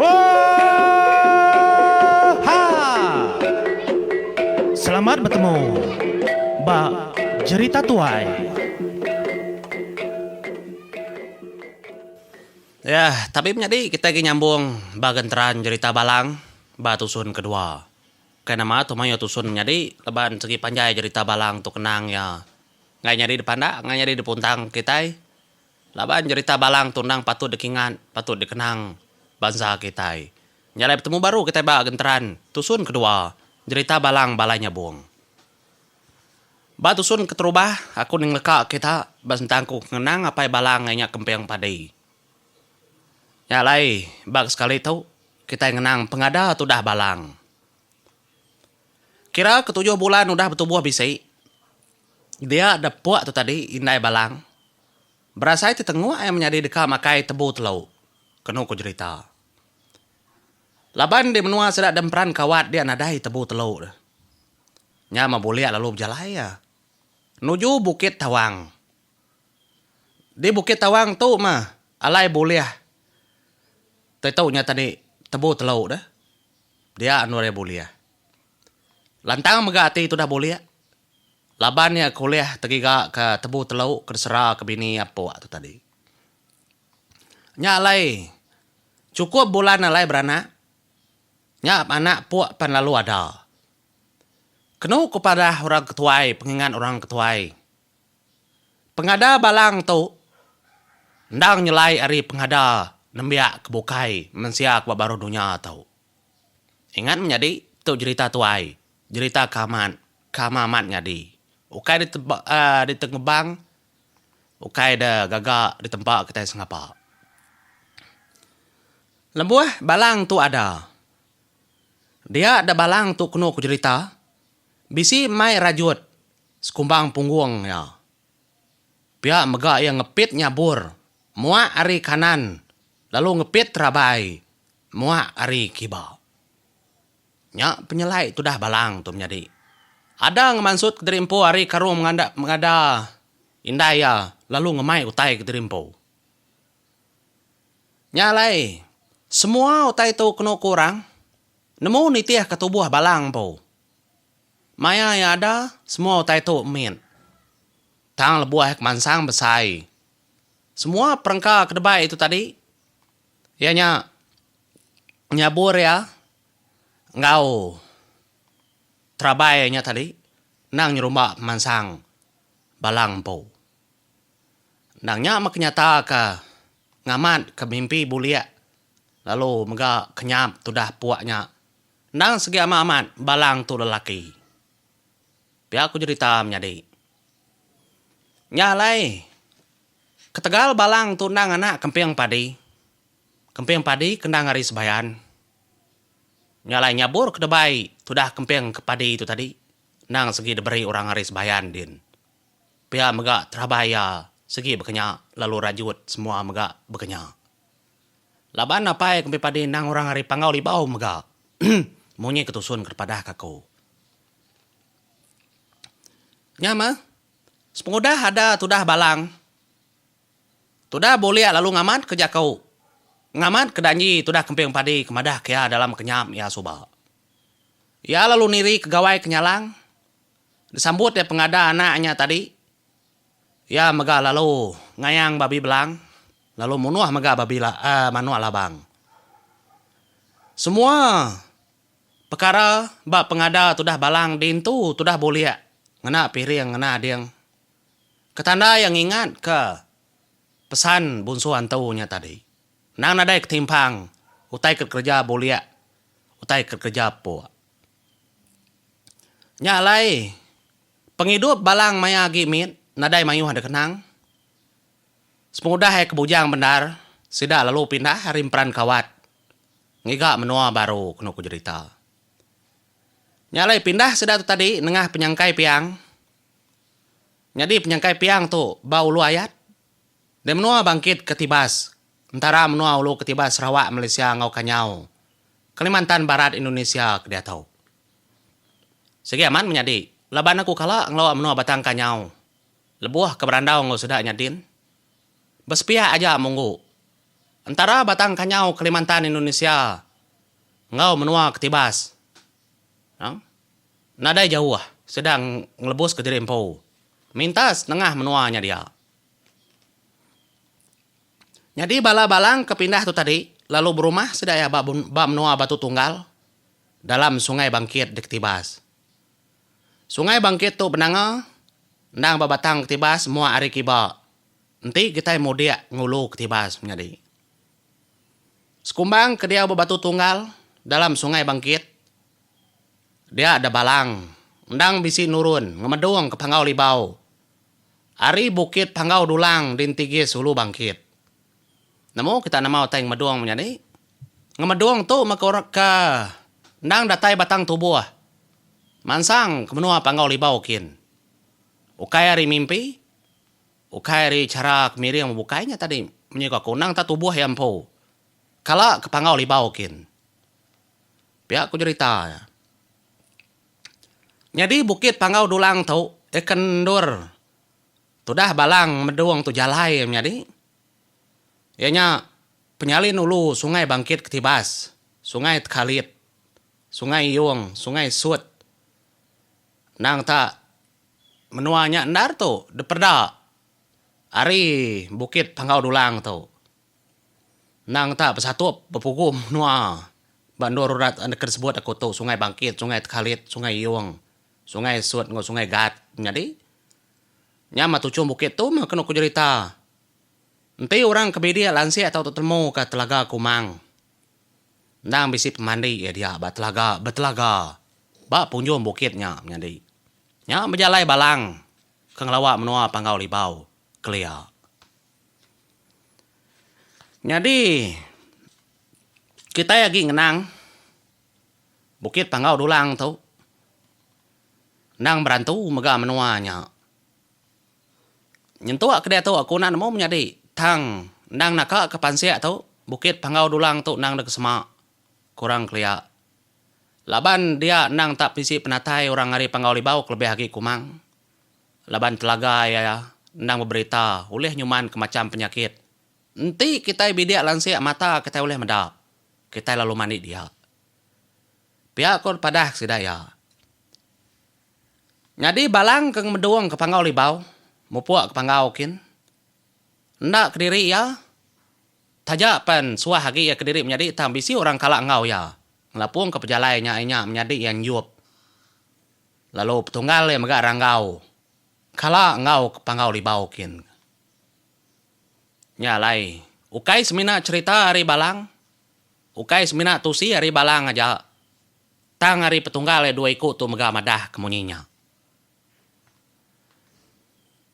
Oohhha! Selamat betemu ba jerita tuai. Yah, tapi menyadi kitai agi nyambung ba genteran jerita Balang ba tusun kedua. Kai nama tu mayuh tusun menyadi laban segi panjai jerita Balang tu kenang iya enggai nyadi dipandak enggai nyadi dipuntang kitai. Laban jerita Balang tu endang patut dikingat, patut dikenang bansa kitai. Nya alai betemu baru kitai ba genteran tusun kedua jerita Balang Balai Nyabong. Ba tusun keterubah, aku ngeleka kita ba sentang aku ngenang apai Balang iya nya Kemping Padi. Nya alai ba ke sekali tu kitai ngenang pengada tudah Balang. Kira ketujuh bulan udah betubuh bisi. Dia da pua tu tadi indai Balang. Berasai ti tenguk ai menyadi deka makai tebu telu, kenu ku jerita. Laban di menua sida da emperan kawat dia nadai tebu telu tu. Nya meh bulik lalu bejalai iya nuju Bukit Tawang. Di Bukit Tawang tu meh alai bulih tai tu nya tadi tebu telu tu dia anu ari bulih. Lantang mega ati tudah bulik laban iya ke ulih tegiga ke tebu telu ke disera ke bini iya empuk tu tadi. Nya alai chukup bulan alai beranak nya anak empuk pan lalu ada. Kenu ku padah orang ke tuai pengingat orang ke tuai pengada balang tu endang nyelai ari pengada nembiak ke bukai mensia ke ba baruh dunya tu. Ingat menyadi, tu jerita tuai, jerita ke amat, ke ama amat nyadi. Ukai diteba aaa ditengebang, ukai de gaga ditempa kitai sengapa. Lebuh balang tu ada, dia da balang tu kenu ku jerita, bisi mai rajut sekumbang punggung iya. Pia mega iya ngepit nyabur muak ari kanan lalu ngepit rabai. Muak ari kiba. Nya penyelai tudah Balang tu menyadi. Ada ngemansut kediri empu ari karung menganda mengada indai iya lalu ngemai utai kediri empu. Nya alai, semua utai tu kenu ku orang nemu nitihka tubuh Balang empu. Maya iya ada, semua utai tu mit. Tang lebuh iya kemansang besai, semua perengka ke debai itu tadi. Iya nya nyabur iya enggau terabai nya tadi endang nyerumba pemansang bala empu. Endang nya meh ke nyataka ngamatka mimpi bulik lalu mega kenyap tudah puak nya endang sigi amat amat bala tu lelaki. Pia ku jerita menyadi. Nya alai. Ketegal balang tu endang anak kemping padi. Kemping padi ke endang ari Sebayan. Nya alai nyabur ke debai tudah kemping ke padi tu tadi endang segi diberi orang ari Sebayan din. Pia mega terabai iya segi bekenya lalu rajut semua mega bekenya. Laban apai kemping padi endang orang ari Panggau Libau mega. Munyi ke tusun ke dipadahka aku. Nya meh. Sepengudah ada tudah balang, tudah bulik lalu ngamat ke jaku, ngamat ke danji tudah kemping padi ke madah ke iya dalam kenyam iya suba. Iya lalu niri ke gawai ke nyalang, disambut iya pengada anak nya tadi. Iya mega lalu ngayang babi belang lalu munuh mega babi la, aaa, manuk labang. Semua. Pekara ba pengada tudah balang diintu tudah bulik ngena piring ngena ading. Ketanda iya ngingatka pesan bunsu antu nya tadi, endang nadai ketimpang utai ke dikereja bulik utai ke dikereja puk. Nya alai pengidup balang maya agi mit nadai mayuh dikenang. Sepengudah iya ke bujang bendar sida lalu pindah ari emperan kawat. ngiga menua baru kenu ku jerita. Nya alai pindah sida tu tadi nengah penyangkai piang nyadi penyangkai piang tu ba Ulu Ayat di menua Bangkit ke Tibas entara menua ulu ke Tibas Sarawak Malaysia enggau Kanyau Kalimantan Barat Indonesia ke diatu. Sigi amat menyadi laban aku kala ngelua menua Batang Kanyau lebuh ke berandau enggau sida nya din besepiak aja munggu. Entara batang kanyau Kalimantan Indonesia enggau menua Ketibas nang nadai jauh sida ngelebus kediri empu mintas nengah menua nya dia. Nyadi bala balang ke pindah tu tadi lalu berumah sida iya ba ba menua Batu Tunggal dalam Sungai Bangkit di Ketibas. Sungai Bangkit tu benanga endang ba batang Ketibas mua ari kiba Enti kitai mudik ngulu ketibas menyadi sekumbang ke diau bebatu tunggal dalam Sungai Bangkit, dia da balang endang bisi nurun ngemedung ke Panggau Libau ari Bukit Panggau Dulang di entigis Ulu Bangkit. Nemu kita nama utai ngemedung menyadi? Ngemedung tu meh ke endang datai batang tubuh mansang ke menua Panggau Libau kin ukai ari mimpi. Ukai ari chara ke miring bebukai nya tadi menyuka aku nang tak tubuh iya empu. Kala ke panggau libau kin. Pia ku jerita iya. Nyadi bukit panggau dulang tu ikan endur tudah balang medung tu jalai iya menyadi. Iya nya penyalin ulu sungai bangkit ke tibas, sungai tekalit, sungai iyung, sungai sut. Endang ta, menua nya endar tu diperda ari Bukit Panggau Dulang tu. Endang ta besatup bepugu menua ba endur urat enda ke disebut aku tu Sungai Bangkit, Sungai Tekalit, Sungai Iyong, Sungai Sut enggau Sungai Gat. Nyadi nya meh tuchum bukit tu meh kenu ku jerita enti orang ke bidik lansik tau tetemuka Telaga Kumang. Endang bisi pemandi iya dia ba telaga betelaga ba punjung bukit nya menyadi. Nya bejalai balang ke ngelawa menua Panggau Libau, kelia. Nyadi kitai agi ngenang Bukit Panggau Dulang tu endang berantu mega menua nya. Nyentuk ke diatu aku enda nemu menyadi tang endang naka ke pansik tu Bukit Panggau Dulang tu endang deka sema kurang kelia laban dia endang tak bisi penatai orang ari Panggau Libau kelebih agi Kumang laban telaga iya endang beberita ulih nyuman ke macham penyakit enti kitai bidik lansik mata kitai ulih meda kitai lalu mandi dia. Pia ko padah sida iya. Nyadi Balang ke ngemedung ke Panggau Libau mupuk ke Panggau kin. Enda kediri iya, taja pen suah agi iya kediri menyadi tang bisi orang kala enggau iya ngelapungka pejalai nya ai nya menyadi iya nyup lalu petunggal iya mega ranggau kala enggau ke Panggau Libau kin. Nya alai, ukai semina cherita ari Balang, ukai semina tusi ari Balang aja. Tang ari Petunggal iya dua iku tu mega madah ke munyi nya.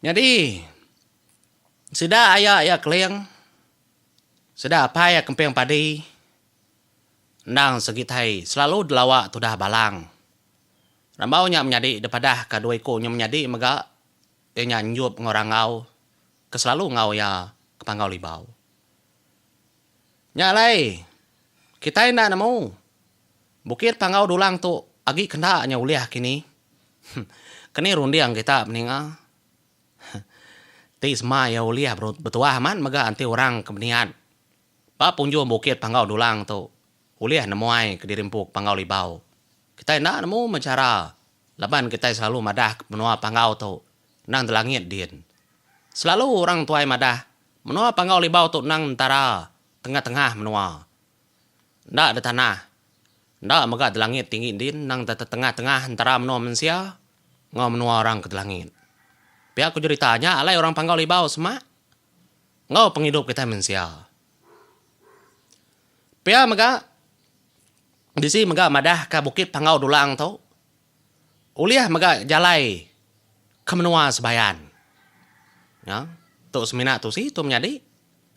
Nyadi, sida aya iya Keling, sida apai iya Kemping Padi, endang segitai selalu delawa tudah Balang. Rambau nya menyadi dipadah ka dua iku nya menyadi mega iya nya nyup enggau rangau ke selalu enggau iya ke Panggau Libau. Nya alai, kitai enda nemu bukit panggau dulang tu agi kenda nya ulih kini. Keni runding kita beninga? Ti sema iya ulih betuah amat mega enti orang ke beniat ba punjung bukit panggau dulang tu ulih nemuai kediri empu ke panggau libau. Kitai enda nemu meh chara laban kitai selalu madahka menua panggau tu endang di langit din. Selalu orang tuai madah Menua Panggau Libau tu endang entara tengah-tengah menua. Enda detanah, enda mega delangit tinggi endin endang tetetengah-tengah entara menua mensia enggau menua orang ke delangit. Pia ku jerita nya alai orang Panggau Libau semak enggau pengidup kitai mensia. Pia mega bisi mega madahka Bukit Panggau Dulang tu Ulih mega jalai ke menua Sebayan. Nya, tu semina tu si tu menyadi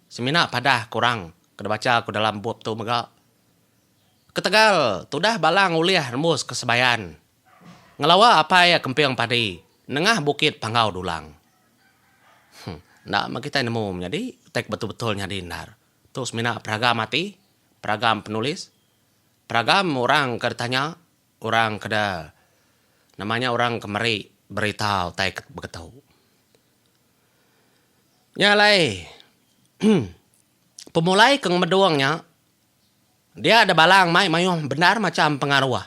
semina padah kurang ke dibacha ku dalam bup tu mega. Ketegal tudah balang ulih nembus ke Sebayan ngelawa apai iya kemping padi nengah Bukit Panggau Dulang. Huh, enda meh kitai nemu menyadi utai ke betul-betul nyadi endar. Tu semina peragam ati, peragam penulis, peragam orang ke ditanya. Orang keda nama nya orang ke meri berita utai ke begetu. Nya alai pemulai ke ngemedung nya dia da balang mai mayuh bendar macham pengaruh.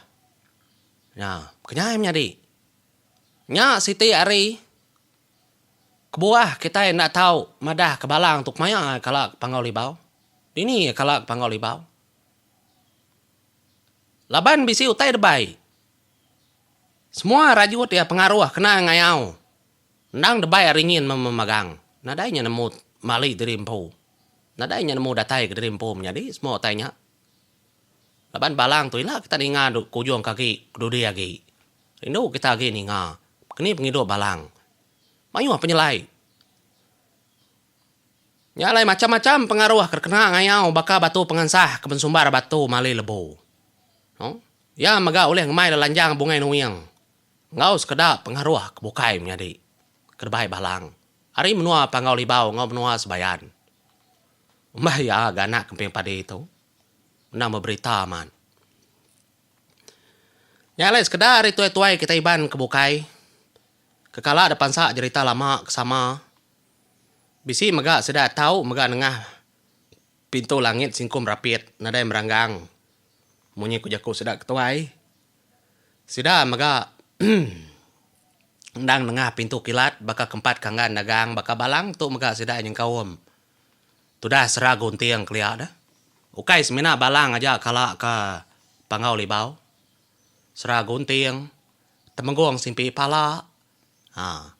Nya kenyai menyadi. Nya siti ari kebuah kitai enda tau madahka balang tu kemaya kala ke panggau libau. Dini kala ke panggau libau. Laban bisi utai debai, semua rajut iya pengaruh kena ngayau endang debai ari nyin memagang. Nadai nya nemu mali diri empu. Nadai nya nemu datai ke diri empu menyadi semua utai nya. Laban balang tu ila kita ninga duk ke ujung ke agi ke dudi agi. Rindu kita agi ninga keni pengidup balang. Mayuh penyelai. Nya alai macham-macham pengaruh ke dikena ngayau baka batu pengansah ke bensumbar batu mali lebu. Noh, iya mega ulih ngemai lelanjang bungai nuing enggau sekeda pengaruh ke bukai menyadi ke debai balang ari menua Panggau Libau enggau menua Sebayan. Umbah iya ga anak kemping padi tu endang beberita amat. Nya alai sekeda ari tuai-tuai kitai Iban ke bukai ke kala depansa jerita lama ke sama Bisi mega sida tau mega nengah pintu langit singkum rapit nadai meranggang munyi ku jaku sida ketuai. Sida mega endang nengah pintu kilat baka ke empat kanggan dagang baka balang tu mega sida nyengkaum tudah sera gunting kelia deh. Ukai semina balang aja kala ke Panggau Libau. Sera gunting, temenggong simpi pala. Haa.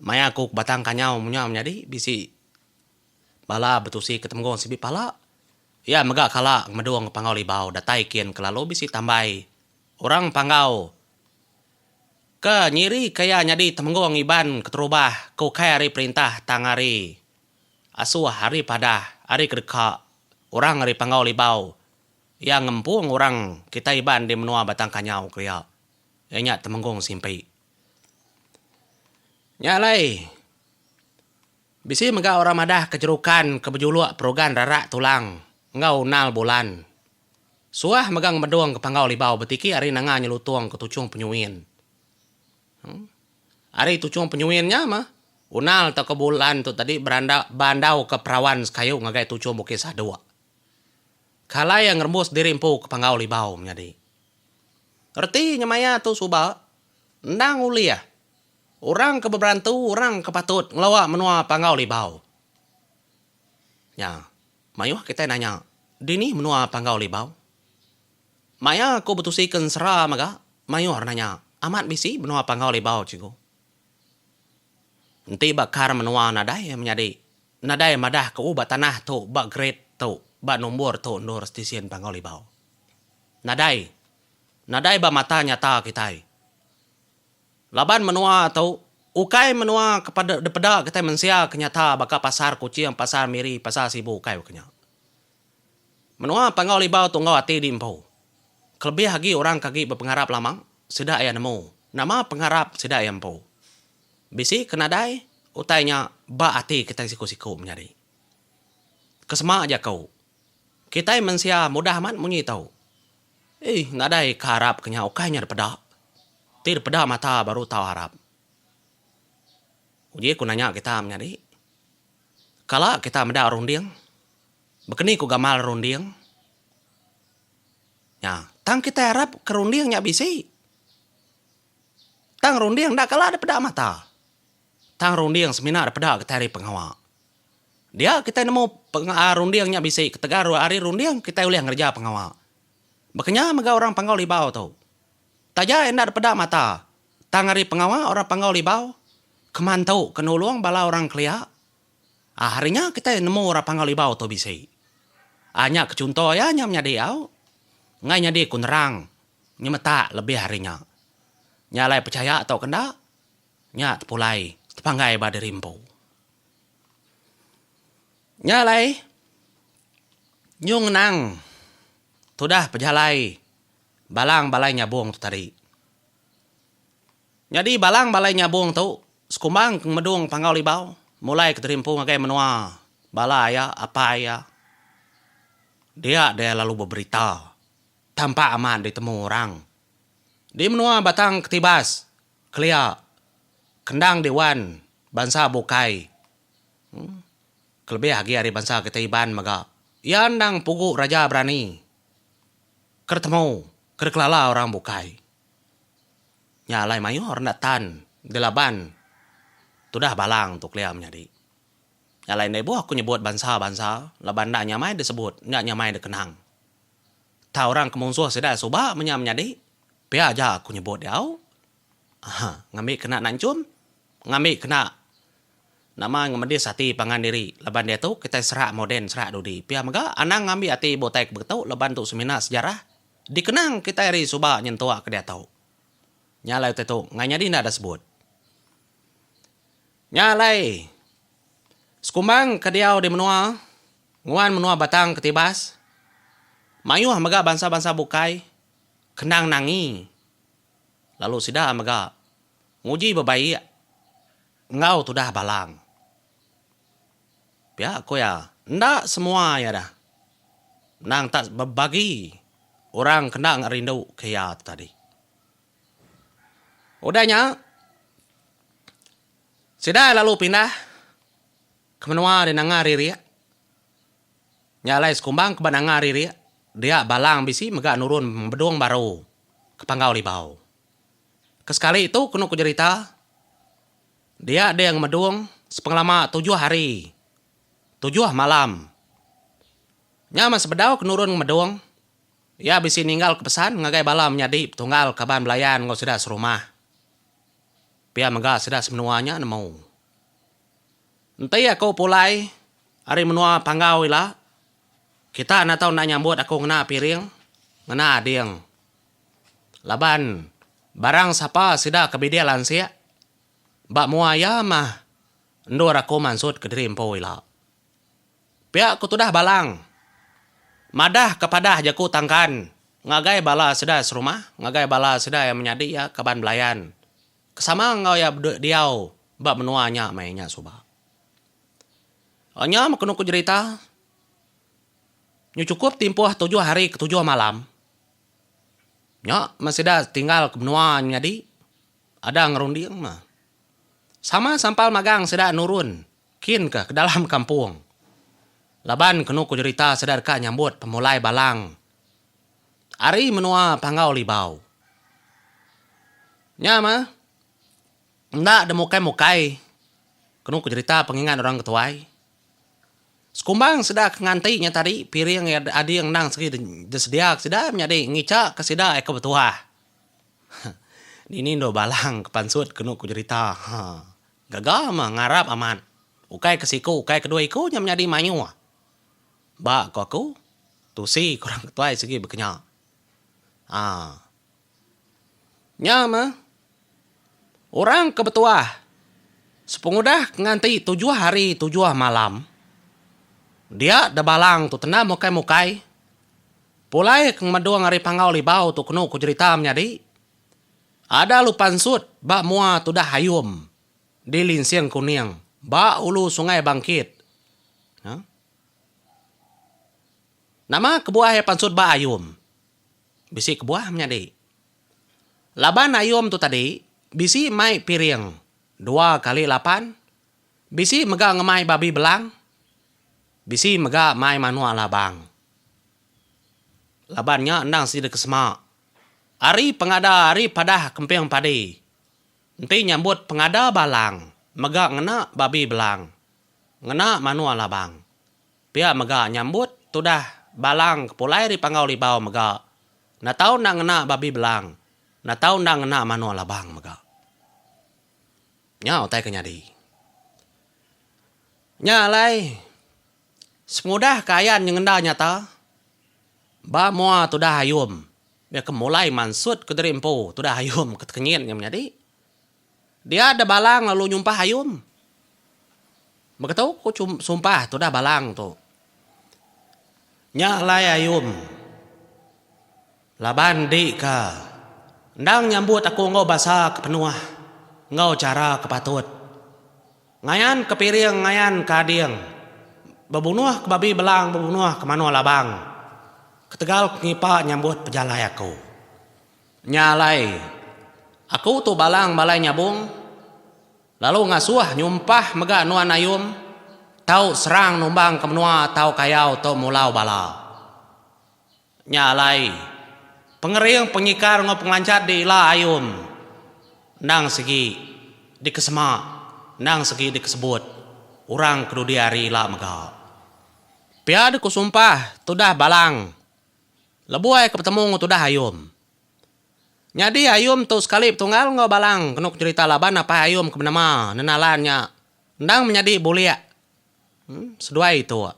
Maya aku ke batang kanyau munyang menyadi bisi bala betusi ke temgong sibi pala iya mega kala ngemedong Panggau Libau datai kin kelalu bisi tambai orang Panggau ke nyirika iya nyadi temenggung Iban keterubah ke ukai ari perintah tang ari asuh ari padah ari kedeka orang ari Panggau Libau iya ngempung orang kitai Iban di menua Batang Kanyau kelia iya nya Temenggung Simpi. Nya alai, bisi mega orang madah ke jerukan ke bejuluk perugan rarak tulang enggau unal bulan. Suah mega ngemedung ke panggau libau betiki ari nanga nyelutung ke tuchung penyuin. Em, ari tuchung penyuin nya meh, unal tauka bulan tu tadi berandau, bandauka perawan sekayu ngagai tuchung bukit saduk. Ke alai iya ngerembus diri empu ke panggau libau menyadi. Reti nyemaya tu suba endang ulih orang ke beberantu orang ke patut ngeloa menua Panggau Libau. Nya, mayuh kitai nanya, dini menua Panggau Libau? Maya aku betusi ke ensera mega, mayuh nanya, amat bisi menua Panggau Libau cikgu? Enti ba kar menua nadai menyadi, nadai madah ke oh ba tanah tu, ba grade tu, ba nombor tu endur stesen Panggau Libau. Nadai. Nadai ba mata nyata kitai. Laban menua tu ukai menua ke peda dipeda kitai mensia ke nyata baka Pasar Kuching, Pasar Miri, Pasar Sibu ukai baka nya. Menua Panggau Libau tu enggau ati diempu. Kelebih agi orang ke agi bepengarap lama, sida iya nemu nama pengarap sida iya empu. Bisi ke nadai utai nya ba ati kitai siku-siku menyadi. Kesema jaku. Kitai mensia mudah amat munyi tau. Eih nadai ka arap ke nya ukai nya dipeda. Ti dipeda mata baru tau arap. Uji ku nanya kita menyadi. Kala kita meda runding. Bekeni ku gamal runding. Nya tang kitai arap ke runding nya bisi. Tang runding enda kala dipeda mata. Tang runding semina da peda kitai ari pengawa. Dia kitai nemu pengaa runding nya bisi ketegal ari runding kitai ulih ngereja pengawa. Baka nya mega orang Panggau Libau tu. Taja enda dipeda mata, tang ari pengawa orang Panggau Libau keman tu ke nulung bala orang kelia. Aa hari nya kitai nemu orang Panggau Libau tu bisi. Aa nya ke chunto iya nya menyadi au enggai nyadi ku nerang nyemetak lebih ari nya. Nya alai pechaya tauka enda. Nya tepulai tepanggai ba diri empu. Nya alai nyung ngenang tudah pejalai Balang Balai Nyabong tu tadi. Nyadi Balang Balai Nyabong tu sekumbang ke ngemedung Panggau Libau mulai ke diri empu ngagai menua bala iya, apai iya. Dia deh lalu beberita tampak amat ditemu orang di menua Batang Ketibas. Kelia, kendang di wan bansa bukai, kelebih agi ari bansa kitai Iban mega, iya endang pugu raja berani ke ditemu, ke dikelala orang bukai. Nya alai mayuh enda tan dilaban tudah balang tu kelia menyadi. Nya alai enda ibuh aku nyebut bansa-bansa laban enda nyamai disebut, enda nyamai dikenang. Tang orang ke munsuh sida suba menya menyadi. Pia aja aku nyebut diau. Aha, ngambi kena nak enchum, ngambi kena nama ngemedis ati pangan diri laban diatu kitai serak moden serak dudi. Pia mega anang ngambi ati butai ke begetu laban tu semina sejarah dikenang kitai ari suba nyentuk ke diatu. Nya alai utai tu ngai nyadi enda disebut. Nya alai sekumbang ke diau di menua nguan menua Batang Ketibas mayuh mega bansa-bansa bukai. Kenang Nangi lalu sida mega nguji bebaik enggau tudah Balang. Pia ku iya, enda semua iya dah menang tak bebagi orang ke enda ngerindu ke iya tu tadi. Udah nya sida lalu pindah ke menua di Nanga Ririk. Nya alai sekumbang ke ba nanga ririk dia balang bisi mega nurun bedung baru ke panggau libau. Ke sekali tu kenu ku jerita dia ding medung sepengelama tujuh hari tujuh malam. Nya meh sebedau ke nurun ngemedung iya bisi ninggalka pesan ngagai bala menyadi betunggal kaban belayan enggau sida serumah. Pia mega sida semenua nya nemu. Enti aku pulai ari menua Panggau ila, kita enda tau enda nyambut aku ngena piring, ngena ading. Laban barang sapa sida ke bidil ansik, ba mua iya mah endur aku mansut kediri empu ila. Pia ku tudah Balang, madah ke padah jaku tangkan ngagai bala sida serumah, ngagai bala sida iya menyadi iya kaban belayan. Ke sama enggau iya bedue diau ba menua nya meh inya suba. Nya meh kenu ku jerita nyu chukup timpuh tujuh hari ke tujuh malam nya meh sida tinggal ke menua nyadi ada ngerunding meh. Sama sampal magang sida nurun kin ke dalam kampung laban kenu ku jerita sida deka nyambut pemulai balang. ari menua Panggau Libau. Nya mah enda demukai-mukai kenu ku jerita pengingat orang ke tuai. Sekumbang sida ke nganti nya tadi piring iya ading endang sigi disedia ke sida menyadi ngicha ke sida iya ke betuah. Dini endur balang ke pansut kenu ku jerita ha. Gaga mah ngarap amat. Ukai ke siku ukai ke dua iku nya menyadi mayuh. Ba ko aku, tusi korang ke tuai sigi bekenya. Haa. Nya meh, orang ke betuah sepengudah nganti tujuh hari tujuh malam, dia de balang tu tendam mukai-mukai, pulai ke ngemedung ari panggau libau tu kenu ku jerita menyadi, ada lupa ensut ba mua tudah Ayum di Linsing Kuning ba ulu Sungai Bangkit. Haa. Nama kebuah iya pansut ba ayom? Bisi kebuah menyadi. Laban ayom tu tadi bisi mai piring dua kali lapan, bisi mega ngemai babi belang, bisi mega mai manuk labang. Laban nya endang sida ke sema. Ari pengada ari padah kemping padi enti nyambut pengada balang mega ngena babi belang. Ngena manua labang. Pia mega nyambut tudah balang ke pulai ri Panggau Libau mega enda tau enda ngena babi belang, enda tau enda ngena manua labang mega. Nya utai ke nyadi. Nya alai sengudah ke ayan nyengenda nyata ba mua tudah ayum bia ke mulai mansut ke diri empu tudah ayum ke tekenyit nya menyadi. Dia deh Balang lalu nyumpah ayum. Beketu ku sumpah tudah Balang tu. Nya alai ayum. Laban enti ka endang nyambut aku enggau basa ke penuh enggau chara ke patut. Ngayan ke piring ngayan ke ading. Bebunuh ke babi belang bebunuh ke manua labang ketegal ke ngipa nyambut pejalai aku. Nya alai, aku tu balang balai nyabung, lalu ngasuh nyumpah mega nuan ayum, tau serang numbang ke menua tau kayau tu mulau bala. Nya alai, pengering pengikar enggau pengelancat di ila ayum endang sigi dikesema endang segi dikesebut orang ke dudi ari ila mega. Pia dikusumpah tudah balang. Lebuh ke betemu enggau tudah Ayum. Nyadi Ayum tu sekali betunggal enggau Balang kenu kenyerita laban apai Ayum ke benema Nenalan nya endang menyadi bulik seduai Ituk.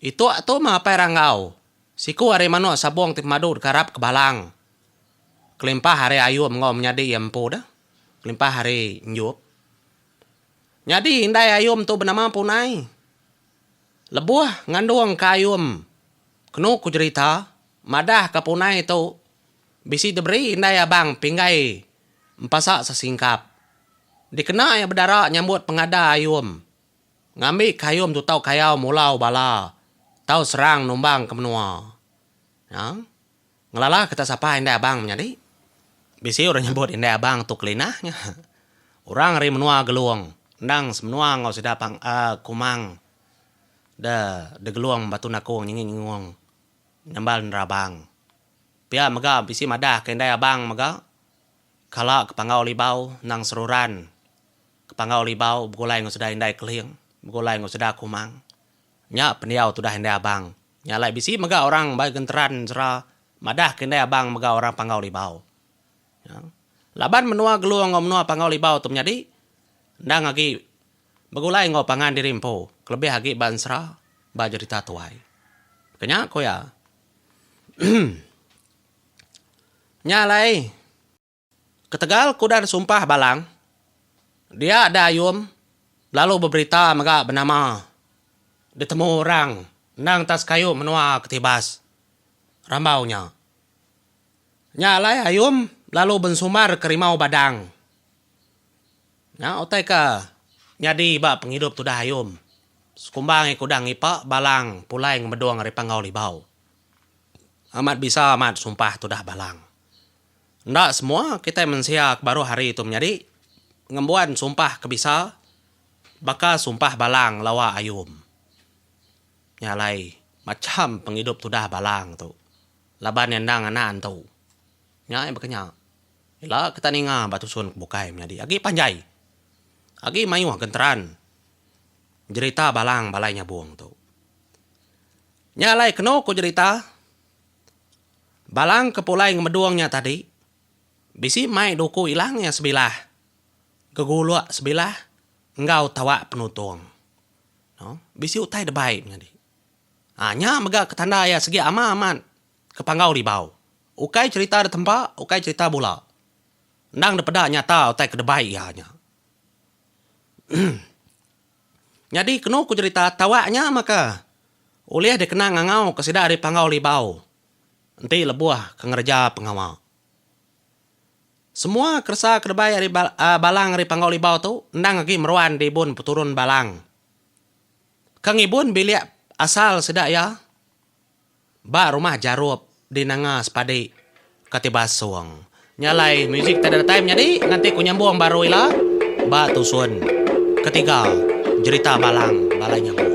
Ituk tu meh apai Ranggau, siku ari manuk sabung ti pemadu deka arap ke Balang kelimpah ari Ayum enggau menyadi iya empu deh, kelimpah ari Enjup. Nyadi indai Ayum tu benema Punai. Lebuh ngandung ke ayum kenu ku jerita madah ke punai tu bisi diberi indai abang pinggai empasa sesingkap dikena iya bedara nyambut pengada ayum ngambi ke ayum tu tau kayau mulau bala tau serang numbang ke menua. Ngelala kita sapa indai abang menyadi. Bisi orang nyebut indai abang tu kelinah nya. Orang ari menua Gelong endang semenua enggau sida pang Kumang da di Gelong Batu Nakong Nyingi Nyengong nyambal nerabang. Pia mega bisi madah ke indai abang mega kala ke panggau libau endang seruran ke panggau libau begulai enggau sida indai Keling begulai enggau sida Kumang. Nya pendiau tudah indai abang. Nya alai bisi mega orang ba genteran sera madahka indai abang mega orang Panggau Libau. Nya laban menua Gelu enggau menua Panggau Libau tu menyadi endang agi begulai enggau pangan diri empu kelebih agi ba ensera ba jerita tuai. Ke nya ku iya. Nya alai. Ketegal kudan sumpah balang, dia da ayum lalu beberita mega benama ditemu orang endang ta sekayu menua Ketibas, rambau nya. Nya alai ayum lalu bensumbar ke rimau Badang. Nya utai ke nyadi ba pengidup tudah ayum, sekumbai kudan ngipa balang pulai ngemedung ari panggau libau. Amat bisa amat sumpah tudah balang. Enda semua kitai mensia ke baruh hari tu menyadi ngembuan sumpah ke bisa baka sumpah Balang lawa Ayum. Nya alai macham pengidup tudah Balang tu laban iya endang anak entu. Nya iya baka nya, ila kita ninga ba tusun ke bukai menyadi agi panjai, agi mayuh genteran jerita Balang Balai Nyabong tu. Nya alai kenu ku jerita Balang ke pulai ngemedung nya tadi, bisi mai duku ilang iya sebilah, geguluk sebilah enggau tawak penutung. No. Bisi utai debai nyadi. Um nya mega ke tanda iya segi ama amat ke panggau ribau. Ukai cerita da tempa, ukai cerita bula. Endang dipeda nyata utai ke debai iya nya. Nyadi kenu ku jerita Tawak nya maka, ulih dikena ngangauka sida ari panggau libau enti lebuh ke ngereja pengawa. Semua keresa ke debai ari balang ari panggau libau tu endang agi meruan di ibun peturun balang. Ka ngibun bilik asal sida iya. Ba rumah Jarup di Nanga Sepadi, Kati Basong, nya alai muzik ti datai menyadi nganti ku nyambung baru ila ba tusun ketiga jerita Balang Balai Nyambung.